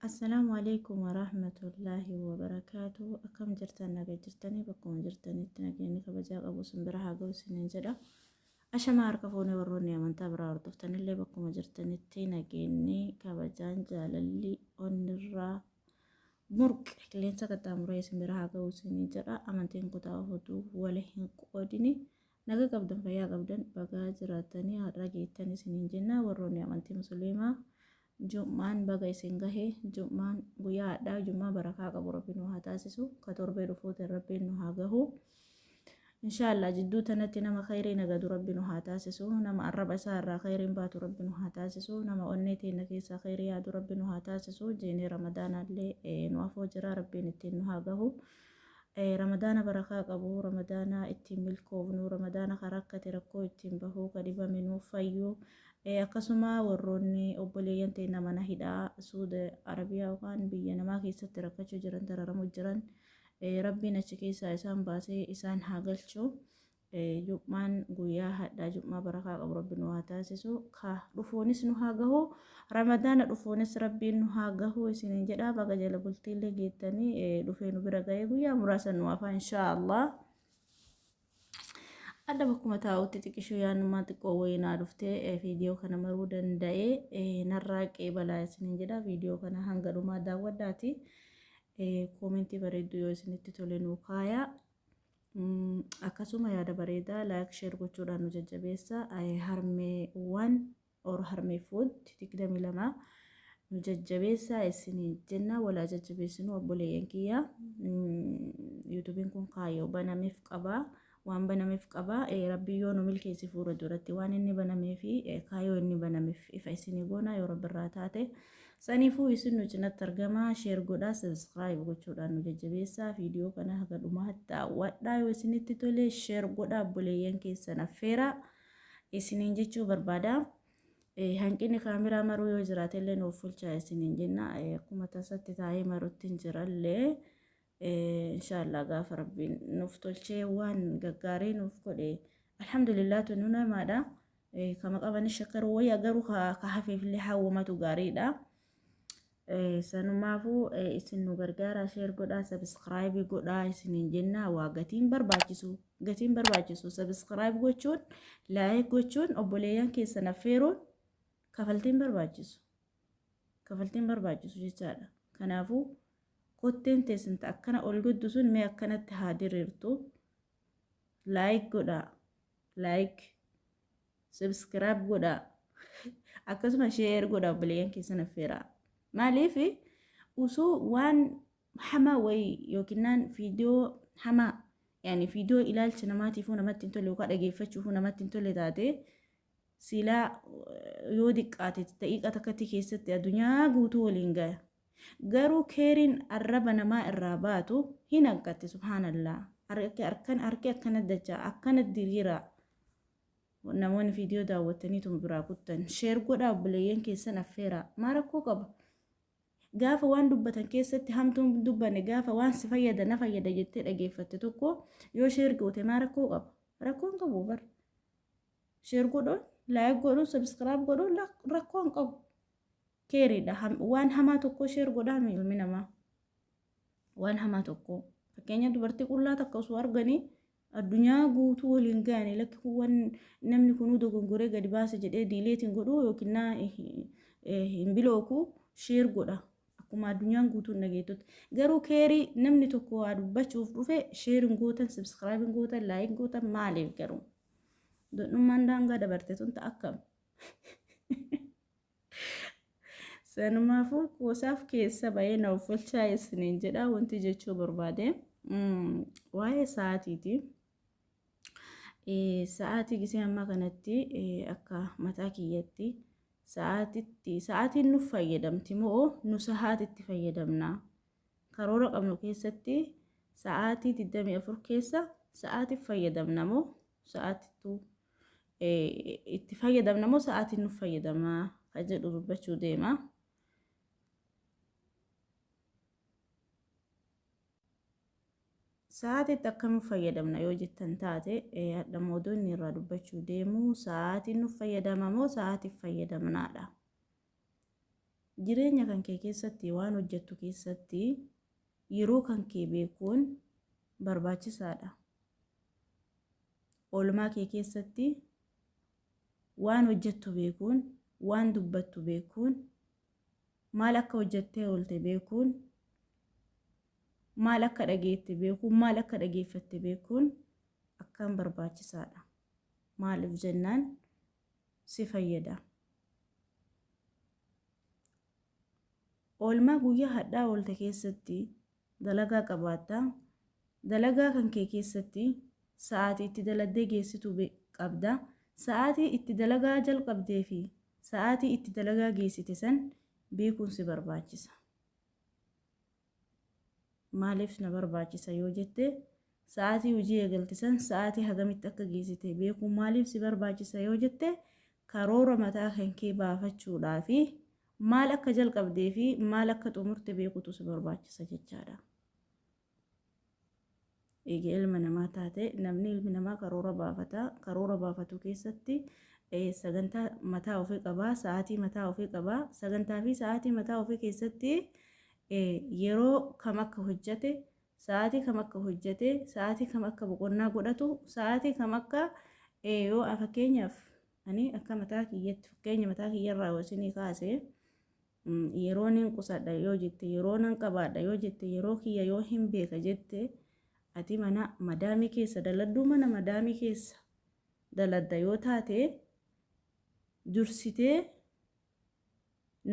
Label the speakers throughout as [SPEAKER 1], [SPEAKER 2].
[SPEAKER 1] Assalaamu alaikum warahmatullaahi wabarakaatu. Akkam jirtan naga jirtanii bakkuma jirtanitti nageenyi kabajaa qabu isin bira haa ga'u isiniin jedha. Ashamaa harka fuunee warroonni amantaa biraa hordoftanillee bakkuma jirtanitti nageenyi kabajaan jaalalli onnirraa murqe qilleensa qaxxaamuree isin bira haa ga'u isinii jedha amantiin kutaa ofutuu wali hin qoodini naga qabdan fayyaa qabdan bagaa jiraatanii har'a geettan isiniin jenna warroonni amantii musliimaa jum'aan baga isin gahe jum'aan guyyaa hadhaa jum'aa barakaa qabu rabbi nu haa taasisu ka torbee dhufuutiin rabbiin nu haa gahu Inshallah jidduu tanatti nama khayrii nagadu rabbi nu haa taasisu nama arraba isaa irraa khayriin baatu rabbi nu haa taasisu nama onnee teenna keessaa khayrii yaadu rabbi nu haa taasisu jeenee ramadaanaallee nu afoo jira rabbiin ittiin nu haa gahu ramadaana barakaa qabu ramadaana ittiin milkoofnu ramadaana ka rakkate rakkoo ittiin bahu ka dhibame nuuf fayyu akkasuma warroonni obboleeyyan teenna mana hidhaa suuda arabiyaa yookaan biyya namaa keessatti rakkachuu jiran dararamu jiran Rabbiin achi keessaa isaan baasee isaan haa galchu. Jum'aan guyyaa hadhaa jum'aa barakaa qabu rabbi nu haa taasisu. Ka dhufuunis nu haa gahu. Ramadaana dhufuunis rabbiin nu haa gahu isiniin jedha. Baga jala bultiillee geettanii dhufee nu bira gahee guyyaa muraasa nu hafaa inshaa Allah. Adda bakkuma taa'utti xiqishuu yaannumaa xiqqoo wayii naa dhuftee eh, viidiyoo kana maruu danda'ee eh, narraa qeebalaa isiniin jedha viidiyoo kana hanga dhumaa daawwadhaati eh, koomentii bareedduu yoo isinitti tole nuu kaayaa Mm, akkasuma yaada bareedaa laayik sheer gochuudhaan nu jajjabeessa Eh, harmeewwan or harmee food 22 nu jajjabeessaa isiniin jenna walaa jajjabeessinuu obboleeyyan kiyya yuutubiin kun kaayoo banameef qabaa waan banameef qabaa rabbi yoo nu milkeessi fuula duratti waan inni banamee fi kaayoo inni banameef ifa isinii goonaa yoo rabbi irraa taate saniifuu isin nu cinatti argamaa sheer godhaa sabiskiraayib gochuudhaan nu jajjabeessaa viidiyoo kana haga dhumaatti daawwadhaa yoo isinitti tole sheer godhaa obboleeyyan keessan affeeraa isiniin jechuu barbaada. Hanqinni kaameraa maruu yoo jiraate illee nuuf fulchaa isiniin jenna. Akkuma tasatti taa'ee marutti hin jirallee inshaallah gaafa rabbiin nuuf tolchee waan gaggaarii nuuf godhe alhamdulillah tunu namaadha. Kama qabanis shakkaruu wayya garuu ka hafeefillee hawwamatu gaariidha. Sanumaafuu isin nu gargaaraa sheer godhaa sabiskiraayibii godhaa isiniin jennaa waa gatiin barbaachisu gatiin barbaachisu sabiskiraayib gochuun laayik gochuun obboleeyyan keessan affeeruun kafaltiin barbaachisu kafaltiin barbaachisu jechaadha kanaafuu kotteen teessinta akkana ol guddu sun mee akkanatti haa diriirtu laayik godhaa laayik. Subscribe godha. Akkasuma share godha obboleeyyan keessan affeera. Maaliif usuu waan hamaa wayii yookinnaan viidiyoo hamaa yaani viidiyoo ilaalcha namaatiifuu namatti hin tolle yookaan dhageeffachuufuu namatti hin tolle taate silaa yoo diqqaate daqiiqa takkatti keessatti addunyaa guutuu waliin gaya. Garuu keeriin arraba namaa irraa baatu hin hanqatte subhaanallaa. Harki akkana dachaa akkana diriiraa. Namoonni viidiyoo daawwattaniituma biraa kuttan share godhaa obboleeyyan keessan affeeraa. Maa rakkoo qaba? Gaafa waan dubbatan keessatti hamtuun hin dubbanne gaafa waan si fayyada na fayyada jettee dhageeffatte tokko yoo share goote maa rakkoo qaba? Rakkoo hin qabu bar. Share godhuun, like godhuun, subscribe godhuun lak- rakkoo hin qabu. Keeriidha. Ham- Waan hamaa tokko share godhaa mi ilmi namaa? waan hamaa tokko fakkeenya dubartii qullaa takka osoo arganii addunyaa guutuu waliin ga'anii lakki kun waan namni kunuu dogongoree gadi baase jedhee diileetiin godhu yookiin naa hin bilooku sheer godha akkuma addunyaan guutuun dhageettutti garuu keerii namni tokko waa dubbachuuf dhufe sheer hin gootan sabskiraayib hin gootan laayik gootan maaliif garuu dodhummaan daangaa dabarte tun ta'a akkam. Sanumaafuu qoosaaf keessa ba'ee na offolchaa isiniin jedha wanti jechuu barbaade waa'ee sa'aatiiti. Sa'aatii gisee ammaa kanatti akka mataa kiyyatti sa'aatitti sa'aatiin nuuf fayyadamti moo nu sa'aatitti fayyadamna? Karoora qabnu keessatti sa'aatii 24 keessa sa'aatiif fayyadamna moo sa'aatittu itti fayyadamna moo sa'aatiin nuuf fayyadama kan jedhu dubbachuu deema. Sa'aatiitti akka nuuf fayyadamna yoo jettan taate hadha moodoonni irraa dubbachuu deemu sa'aatiin nuuf fayyadama moo sa'aatiif fayyadamnaadha. Jireenya kan kee keessatti waan hojjettu keessatti yeroo kan kee beekuun barbaachisaadha. Oolmaa kee keessatti waan hojjettu beekuun, waan dubbattu beekuun, maal akka hojjettee oolte beekuun, maal akka dhageette beekuun, maal akka dhageeffatte beekuun akkaan barbaachisaadha. Maaliif jennaan si fayyada. Oolmaa guyyaa hadhaa oolte keessatti dalagaa qabaatta. Dalagaa kan kee keessatti sa'aatii itti daladdee geessitu qabda. Sa'aatii itti dalagaa jalqabdee fi sa'aatii itti dalagaa geessite san beekuun si barbaachisa. Maaliif na barbaachisa yoo jette, sa'aatii hojii eegalte san sa'aatii hagamitti akka geessite beekuun maaliif si barbaachisa yoo jette, karoora mataa kan kee baafachuudhaa fi maal akka jalqabdee fi maal akka xumurte beekutu si barbaachisa jechaadha. Eega ilma namaa taate namni ilmi namaa karoora baafata. Karoora baafatu keessatti sagantaa mataa ofii qaba, sa'aatii mataa ofii qaba. Sagantaa fi sa'aatii mataa ofii keessatti yeroo kam akka hojjate, sa'aatii kam akka hojjate, sa'aatii kam akka boqonnaa godhatu, sa'aatii kam akka yoo fakkeenyaaf ani akka mataa kiyyatti fakkeenya mataa kiyyarraa yoo isinii kaase Yeroo nin qusadha yoo jette, yeroo nan qabaadha yoo jette, yeroo kiyya yoo hin beeka jette, ati mana madaamii keessa daladduu mana madaamii keessa daladda yoo taate dursitee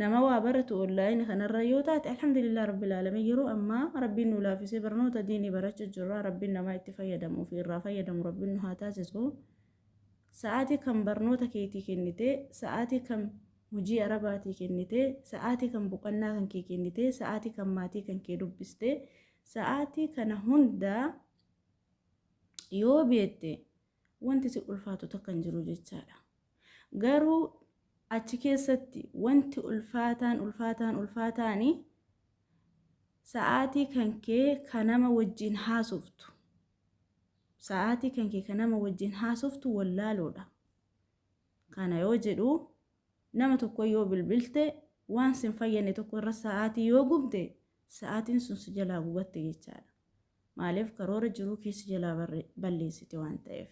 [SPEAKER 1] nama waa baratu online kanarra yoo taate alhamdulillah rabbil alamin yeroo ammaa rabbiin nu laafisee barnoota diinii barachuu jirra rabbiin namaa itti fayyadamu fi irraa fayyadamu rabbiin nu haa taasisu. Sa'aatii kam barnoota keetii kennite? Sa'aatii kam hojii arabaatii kennite? Sa'aatii kam boqannaa kan kee kennite? Sa'aatii kam maatii kan kee dubbiste? Sa'aatii kana hunda yoo beekte wanti si ulfaatu takka hin jiru jechaadha. Garuu achi keessatti wanti ulfaataan ulfaataan ulfaataani sa'aatii kan kee ka nama wajjin haasoftu Sa'aatii kan kee kan nama wajjin haasoftu wallaaloodha. Kana yoo jedhu nama tokko yoo bilbilte waan sin fayyadne tokko irra sa'aatii yoo gubde sa'aatiin sun si jalaa gubatte jechaadha. Maaliif karoora jiruu kee si jalaa balleessite waan ta'eef.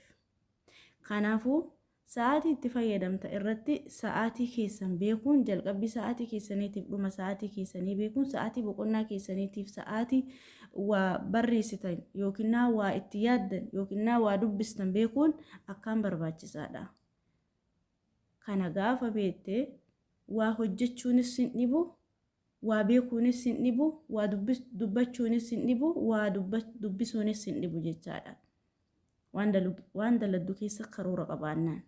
[SPEAKER 1] Kanaafuu Sa'aatii itti fayyadamta irratti sa'aatii keessan beekuun jalqabbii sa'aatii keessaniitiif dhuma sa'aatii keessanii beekuun sa'aatii boqonnaa keessaniitiif sa'aatii waa barreessitan yookinnaa waa itti yaaddan yookinnaa waa dubbistan beekuun akkaan barbaachisaadha. Kana gaafa beekte waa hojjechuunis sin dhibu, waa beekuunis sin dhibu, waa dubbachuunis sin dhibu, waa dubbisuunis sin dhibu jechaadha. Waan dalu- waan daladdu keessa karoora qabaannaan.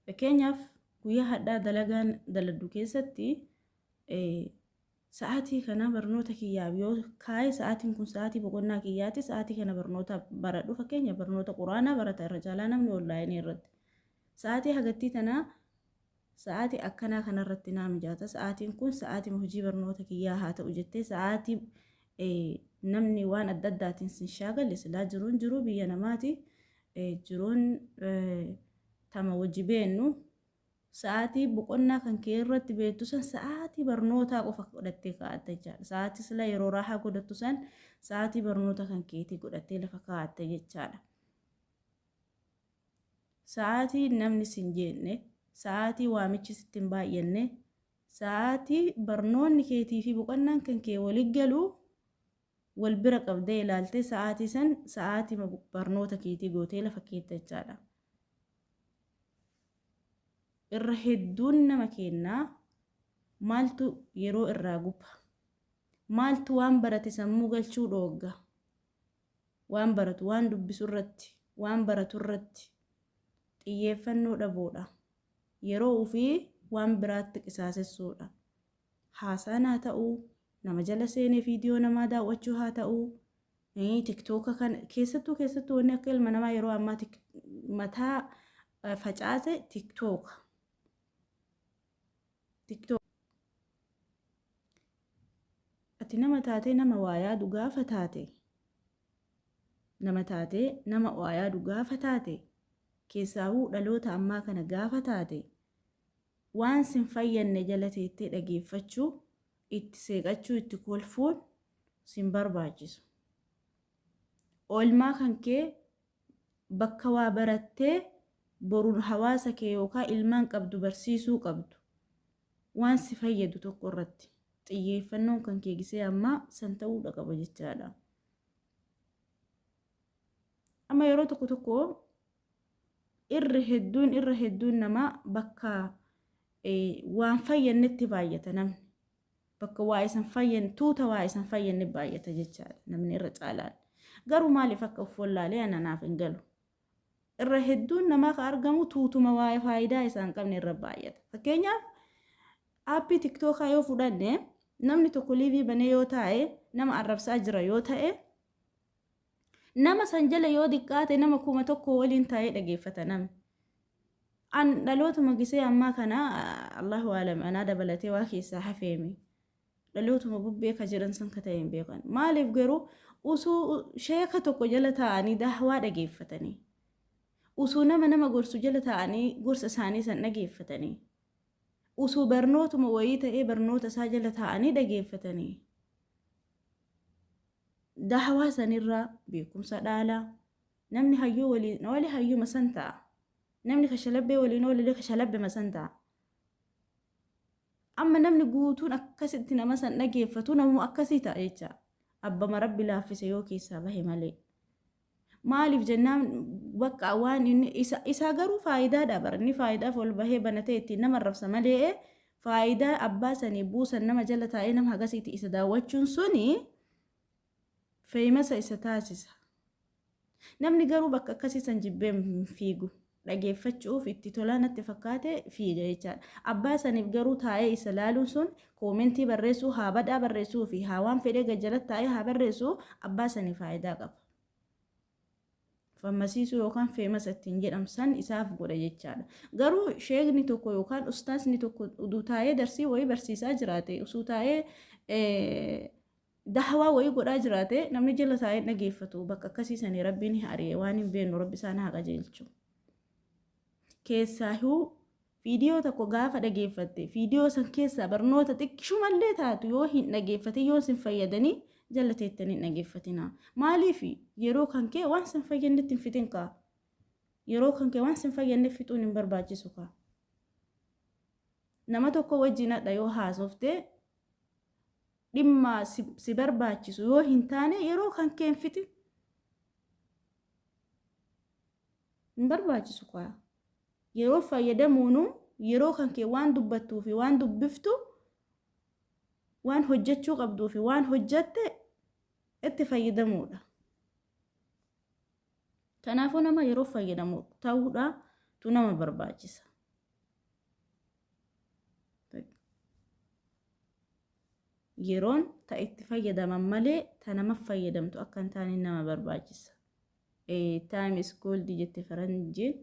[SPEAKER 1] Fakkeenyaaf guyyaa hadhaa dalagaan daladdu keessatti eh, sa'aatii kana barnoota kiyyaaf yoo kaa'e sa'aatiin kun sa'aatii boqonnaa kiyyaati sa'aatii kana barnoota baradhu fakkeenya barnoota quraanaa barata irra caalaa namni onlaayinii irratti sa'aatii hagattii tanaa Sa'aatii akkanaa kanarratti naa mijaata, sa'aatiin kun sa'aatima hojii barnoota kiyyaa haa ta'u jettee sa'aatii namni waan adda addaatiin sin shaagale silaa jiruun jiruu biyya namaati. Jiruun tama wajji beennu sa'aatii boqonnaa kan kee irratti beektu san sa'aatii barnootaa qofa godhattee kaa'atta jechaadha. Sa'aatii sila yeroo raahaa godhattu san sa'aatii barnoota kan keetii godhattee lafa kaa'atta jechaadha. Sa'aatii namni si hin jeeqne, sa'aatii waamichi sitti hin baay'anne, sa'aatii barnoonni keetii fi boqonnaan kan kee wali galu wal bira qabdee ilaaltee sa'aatii san sa'aatii barnoota keetii gootee lafa keetta jechaadha. Irra hedduun nama keennaa maaltu yeroo irraa guba? Maaltu waan barate sammuu galchuu dhoogga? waan baratu, waan dubbisu irratti, waan baratu irratti xiyyeeffannoo dhabuudha. Yeroo ofii waan biraatti qisaasessuudha. Haasaan haa ta'u, nama jala seenee viidiyoo namaa daawwachuu haa ta'u, tiktooka kan keessattuu keessattuu wanni akka ilma namaa yeroo ammaa mataa facaase tiktooka. tiktok ati nama taatee nama waa yaadu gaafa taate nama taatee nama waa yaadu gaafa taate keessaahuu dhaloota ammaa kana gaafa taate waan sin fayyanne jala teettee dhageeffachuu itti seeqachuu itti kolfuun sin barbaachisu. Oolmaa kan kee bakka waa barattee boru hawaasa kee yookaan ilmaan qabdu barsiisuu qabdu waan si fayyadu tokko irratti xiyyeeffannoon kan kee gisee ammaa san ta'uudha qaba jechaadha. Amma yeroo tokko tokko irra hedduun irra hedduun namaa bakka waan fayyannetti baay'ata namni. Bakka waa isan fayyan tuuta waa isan fayyanne baay'ata jechaadha namni irra caalaan. Garuu maaliif akka of wallaalee ana naaf hin galu. Irra hedduun namaa ka argamu tuutuma waa faayidaa isaan qabne irra baay'ata. Fakkeenyaaf aappii tiktookaa yoo fudhanne namni tokko liivii banee yoo taa'e nama arrabsaa jira yoo ta'e Nama san jala yoo diqqaate nama kuma tokko waliin taa'ee dhageeffata namni. An dhalootuma gisee ammaa kana Allahu aalam anaa dabalatee waa keessaa hafeemi. Dhalootuma bubbee ka jiran san ka ta'e hin beekan. Maaliif garuu usuu sheeka tokko jala taa'anii daahwaa dhageeffatanii. Usuu nama nama gorsu jala taa'anii gorsa isaanii san dhageeffatanii. Usuu barnootuma wayii ta'ee barnoota isaa jala taa'anii dhageeffatanii. dahawaa sanirraa beekumsa dhaala. Namni hayyuu waliin oole hayyuma san ta'a. Namni kashalabbee waliin oolellee kashalabbema san ta'a. Amma namni guutuun akkasitti nama san dhageeffatu namuma akkasii ta'a jecha. Abbama rabbi laaffise yoo keessaa bahe malee. Maaliif jennaan bakka waan inni isa isaa garuu faayidaadha bara inni faayidaaf ol bahee banatee ittiin nama arrabsa malee faayidaa abbaa sanii buusan nama jala taa'ee nama hagasiiti isa daawwachuun suni feeyimasa isa taasisa. Namni garuu bakka akkasii san jibbee hin fiigu. dhageeffachu'uuf itti tolaa natti fakkaate fiiga jechaadha. Abbaa saniif garuu taa'ee isa laaluun sun koomentii barreessuu, haa badhaa barreessuu fi haa waan fedhee gad jalatti taa'ee haa barreessuu abbaa saniif faayidaa qaba. Fammasiisuu yookaan feemasa ittiin jedhamu san isaaf godha jechaadha. Garuu sheekni tokko yookaan ustaasni tokko uduu taa'ee darsii wayii barsiisaa jiraate usuu taa'ee Dahawaa wayii godhaa jiraate namni jala taa'ee hin dhageeffatu bakka akkasii sanii rabbiin hin ari'e waan hin beennu rabbi isaan haa qajeelchu. Keessaahuu viidiyoo tokko gaafa dhageeffatte viidiyoo san keessaa barnoota xiqqishumallee taatu yoo hin dhageeffatin yoo sin fayyadanii jala teettanii hin dhageeffatina. Maaliif yeroo kan kee waan sin fayyannetti hin fixin kaa. Yeroo kan kee waan sin fayyanne fixuun hin barbaachisu kaa. Nama tokko wajjin hadha yoo haasofte dhimma si, si barbaachisu yoo hin taane yeroo kan keen fixi hin barbaachisu kaa yeroo fayyadamuunu yeroo kan kee waan dubbattuu fi waan dubbiftu waan hojjechuu qabduu fi waan hojjette itti fayyadamuudha kanaafuu nama yeroo fayyadamu ta'uudha tu nama barbaachisa Yeroon ta itti fayyadaman malee ta namaf fayyadamtu akka hin taane nama barbaachisa. A time is gold jette faranjiin.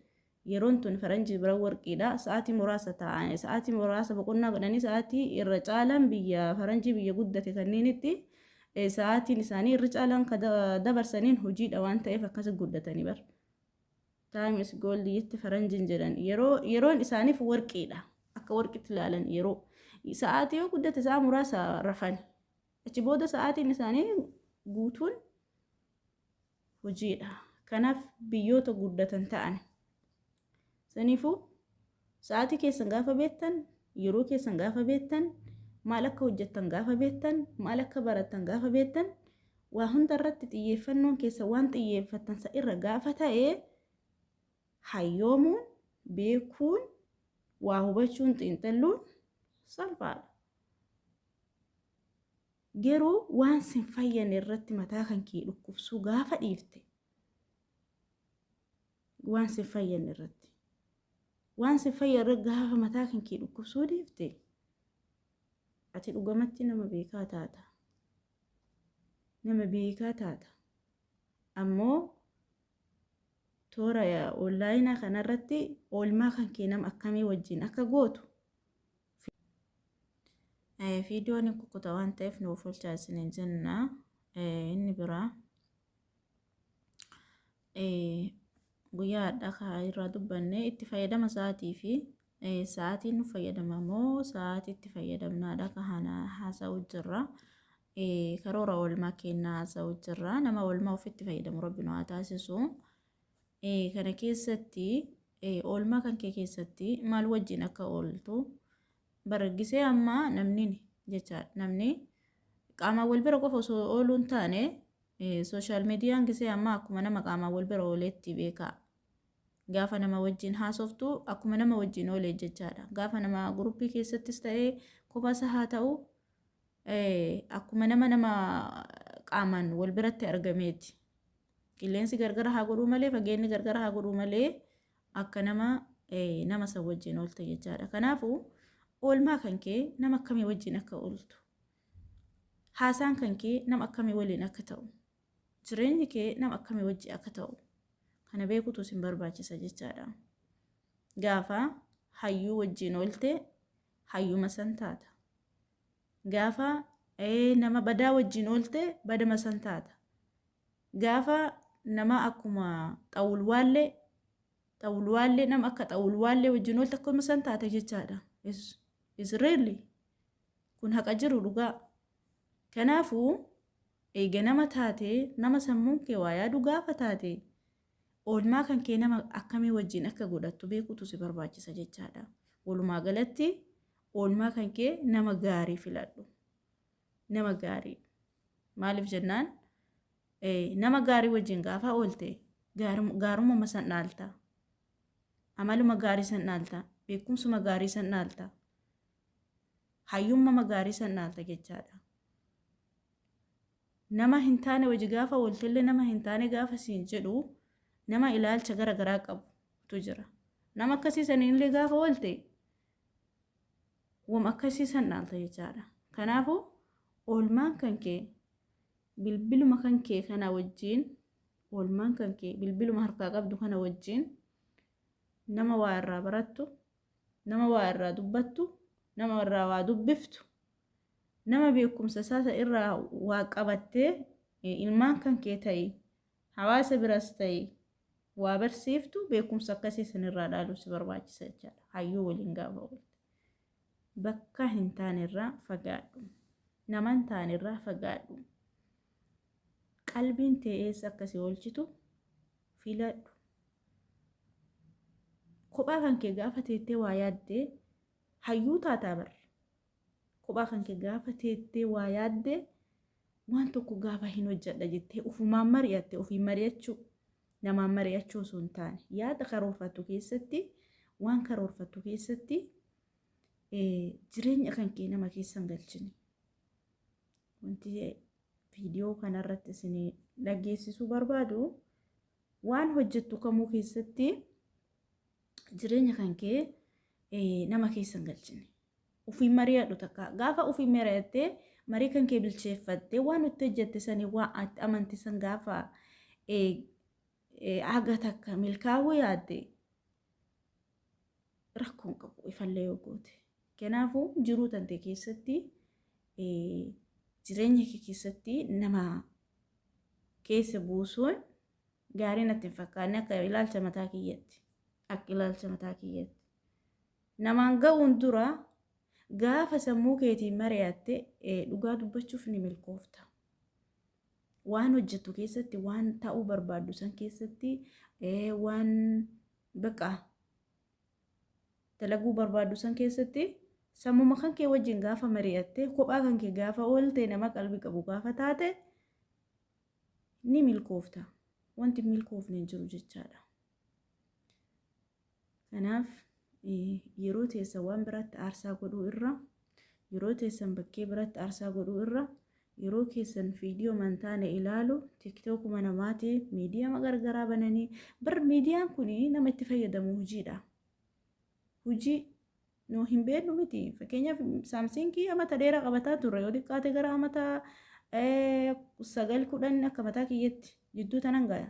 [SPEAKER 1] Yeroon tun faranjii bira warqiidha. Sa'aatii muraasa taa'an, sa'aatii muraasa boqonnaa godhanii sa'aatii irra caalaan biyya faranjii biyya guddate kanneenitti eh, sa'aatiin isaanii irra caalaan ka da- dabarsaniin hojiidha waan ta'eef akkasi guddatanii bar. Time is gold jetti faranjin jedhan. Yeroo yeroon isaaniif warqiidha. Akka warqitti ilaalan yeroo. Sa'aatii yoo guddate sa'a muraasa rafani. Achi booda sa'aatiin isaanii guutuun hojiidha. Kanaaf biyyoota guddatan ta'an. Saniifuu Sa'aatii keessan gaafa beektan, yeroo keessan gaafa beektan, maal akka hojjettan gaafa beektan, maal akka barattan gaafa beektan, waa hunda irratti xiyyeeffannoon keessan waan xiyyeeffattan san irra gaafa ta'e, hayyoomuun, beekuun, waa hubachuun, xiinxalluun salphaadha. Garuu waan sin fayyane irratti mataa kan kee dhukkubsuu gaafa dhiifte, waan sin fayyanne irratti waan sin fayya irra gaafa mataa kan kee dhukkubsuu dhiifte ati dhugamatti nama beekaa taata nama beekaa taata ammoo toora onlaayinaa kanarratti oolmaa kan kee nama akkamii wajjin akka gootu viidiyoon hin kukkuta waan ta'eef nuuf olchaa isiniin jenna inni biraa guyyaa hadhaa kaa irraa dubbanne itti fayyadama sa'aatii fi sa'aatiin nu fayyadama moo sa'aatii itti fayyadamnaadha ka hana haasa'u jirra karoora oolmaa kennaa haasa'u jirra nama oolmaa ofitti fayyadamu rabbi nu haa taasisu kana keessatti oolmaa kan kee keessatti maal wajjin akka ooltu baraggisee ammaa namni jecha namni qaamaan wal bira qofa osoo ooluu hin taane Social median gisee ammaa akkuma nama qaamaan wal bira ooleetti beekaa. Gaafa nama wajjin haasoftu akkuma nama wajjin oolee jechaadha. Gaafa nama guruppii keessattis ta'ee kophaasa haa ta'u akkuma nama nama qaamaan wal biratti argameeti. Qilleensi gargara haa godhuu malee fageenni gargara haa godhuu malee akka nama nama san wajjin oolte jechaadha. Kanaafuu oolmaa kan kee nama akkamii wajjin akka ooltu Haasaan kan kee nama akkamii waliin akka ta'u, jireenyi kee nama akkamii wajji akka ta'u kana beekutu sin barbaachisa jechaadha. Gaafa hayyuu wajjiin oolte hayyuma san taata. Gaafa nama badaa wajjiin oolte badama san taata. Gaafa nama akkuma xawulwaallee xawulwaallee nama akka xawulwaallee wajjiin oolte akkuma san taata jechaadha. Is is really Kun haqa jiru dhugaa. Kanaafuu, eega nama taatee, nama sammuun kee waa yaadu gaafa taate, oolmaa kan kee nama akkamii wajjin akka godhattu beekuutu si barbaachisa jechaadha. Walumaa galatti, oolmaa kan kee nama gaarii filadhu. Nama gaarii. Maaliif jennaan, nama gaarii wajjin gaafa oolte, gaarumuma san dhaalta. Amaluma gaarii san dhaalta. Beekumsuma gaarii san dhaalta. hayyummama gaarii san dhaalta jechaadha. Nama hin taane waji gaafa waltelle nama hin taane gaafa siin jedhu nama ilaalcha gara garaa qabutu jira. Nama akkasii saniin illee gaafa walte wam akkasii san dhaalta jechaadha. Kanaafuu oolmaan kan kee bilbiluma kan kee kana wajjiin oolmaan kan kee bilbiluma harkaa qabdu kana wajjiin nama waa irraa barattu nama waa irraa dubbattu, nama irraa waa dubbiftu, nama beekumsa isaa san irraa waa qabattee ilmaan kan kee ta'i, hawaasa biraas ta'i waa barsiiftu beekumsa akkasii san irraa dhaaluu si barbaachisa jechaadha. Hayyuu waliin gaafa oolte. Bakka hin taane irraa fagaadhu. Nama hin taane irraa fagaadhu. Qalbiin tee eessa akka si oolchitu filadhu. Kophaa kan kee gaafa teettee waa yaaddee hayyuu taataa bar. Kophaa kan kee gaafa teettee waa yaaddee waan tokko gaafa hin hojjedha jettee ufumaan mari'atte ofiin mari'achuu namaan mari'achuu osoo hin taane yaada karoorfattu keessatti waan karoorfattu keessatti jireenya kan kee nama keessa hin galchine. Wanti viidiyoo kanarratti isin dhageessisuu barbaadu. Waan hojjettu kamuu keessatti jireenya kan kee eh, nama keessa hin galchine. Ofiin mari'adhu takka. Gaafa ofiin mari'attee marii kan kee bilcheeffattee waan itti hojjette sanii waan itti amante san gaafa eh, eh, haga takka milkaa'uu yaadde rakkoon qabu ifallee yoo goote. Kanaafuu jiruu tantee keessatti jireenya kee keessatti nama keessa buusuun gaarii natti hin fakkaanne akka ilaalcha mataa kiyyatti. Akka ilaalcha mataa kiyyatti. Namaan ga'uun dura gaafa sammuu keetiin mari'atte dhugaa dubbachuuf ni milkoofta. Waan hojjettu keessatti, waan ta'uu barbaaddu san keessatti, waan Baqa. Dalaguu barbaaddu san keessatti sammuma kan kee wajjin gaafa mari'atte kophaa kan kee gaafa oolte nama qalbii qabu gaafa taate ni milkoofta. Wanti hin milkoofne hin jiru jechaadha. Kanaaf yeroo teessa waan biraatti aarsaa godhuu irra Yeroo teessan bakkee biratti aarsaa godhuu irra, yeroo keessan viidiyoo man taane ilaalu, tiktookuma namaati, miidiyama gargaraa bananii, bar miidiyaan kun nama itti fayyadamu hojiidha. Hojii nu hin beeknu miti. Fakkeenyaaf saamsiingii amata dheeraa qabataa turre yoo xiqqaate gara amata sagal kudhan akka mataa kiyyatti jidduu tanan gaya.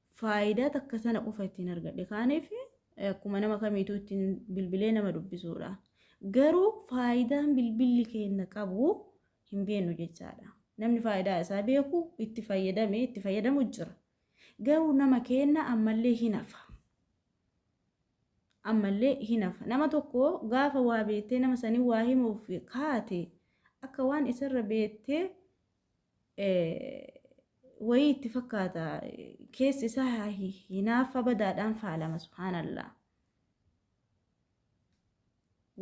[SPEAKER 1] faayidaa takka sana qofa ittiin argadhe kaaniif akkuma nama kamiituu ittiin bilbilee nama dubbisuudha. Garuu faayidaan bilbilli keenya qabu hin beeknu jechaadha. Namni faayidaa isaa beeku itti fayyadame itti fayyadamu jira. Garuu nama keenya ammallee hin hafa. Ammallee hin hafa. Nama tokko gaafa waa beektee nama sanii waa himuuf kaate akka waan isarra beektee wayii itti fakkaata keessi isaa hinaafa badaadhaan faalama subhaanallah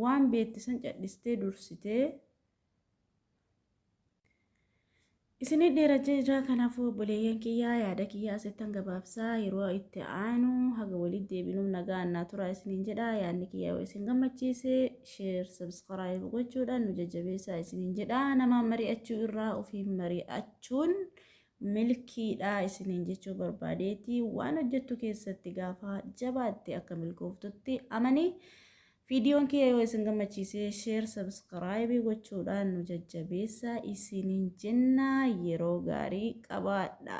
[SPEAKER 1] waan beekte san cadhistee dursitee isinii dheera jira kanaafuu obboleeyyan kiyyaa yaada kiyyaa asittan gabaabsaa yeroo itti aanu haga walitti deebinuuf nagaa annaa turaa isiniin jedha yaadni kiyyaa yoo isin gammachiise sheer sabskiraayib gochuudhaan nu jajjabeessaa isiniin jedha namaan mari'achuu irraa ofiin mari'achuun milkiidhaa isiniin jechuu barbaadeeti waan hojjettu keessatti gaafa jabaatte akka milkooftutti amanii viidiyoon kiyya yoo isin gammachiisee sheer sabskiraayibii gochuudhaan nu jajjabeessaa isiniin jenna yeroo gaarii qabaadha.